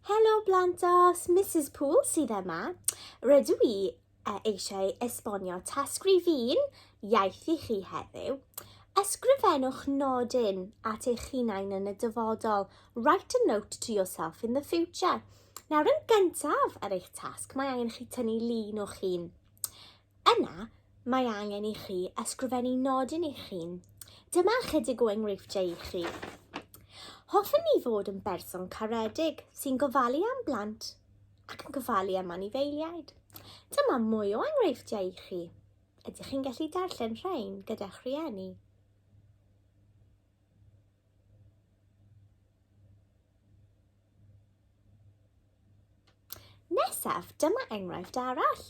Helo Blantos, Mrs Pool sydd yma. Rydw i e, eisiau esbonio tasg rifin iaith i chi heddiw. Ysgrifennwch nodyn at eich hunain yn y dyfodol. Write a note to yourself in the future. Nawr yn gyntaf ar eich tasg, mae angen chi tynnu lun o'ch hun. Yna, mae angen i chi ysgrifennu nodyn eich hun. Dyma ychydig o enghreifftiau i chi. Hoffwn ni fod yn berson caredig sy'n gofalu am blant ac yn gofalu am anifeiliaid. Dyma mwy o enghreifftiau i chi. Ydych chi'n gallu darllen rhain gyda'ch rhieni? Nesaf, dyma enghraifft arall.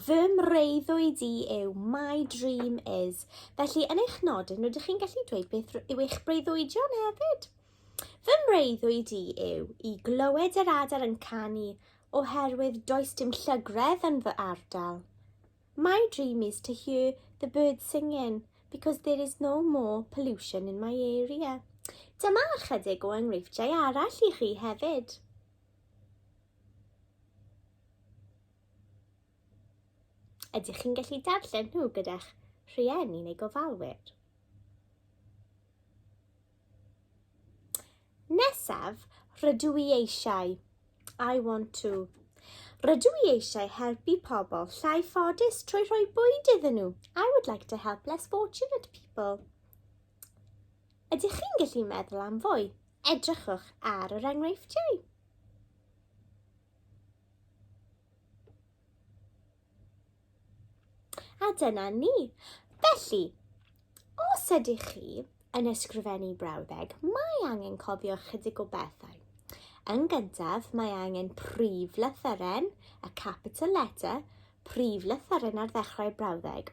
Fy mreuddwyd i yw my dream is. Felly, yn eich nodyn, rydych chi'n gallu dweud beth yw eich breuddwydion hefyd. Fy mreuddwyd i yw i glywed yr adar yn canu oherwydd does dim llygredd yn fy ardal. My dream is to hear the birds singing because there is no more pollution in my area. Dyma ychydig o enghreifftiau arall i chi hefyd. Ydych chi'n gallu darllen nhw gyda'ch rhieni neu gofalwyr? Nesaf, rydw i eisiau. I want to. Rydw i eisiau helpu pobl llai ffodus trwy rhoi bwyd iddyn nhw. I would like to help less fortunate people. Ydych chi'n gallu meddwl am fwy? Edrychwch ar yr enghreifftiau. A dyna ni. Felly, os ydych chi yn ysgrifennu brawddeg, mae angen cofio chydig o bethau. Yn gyntaf, mae angen prif lythyren, a capital letter, prif lythyren ar ddechrau brawddeg,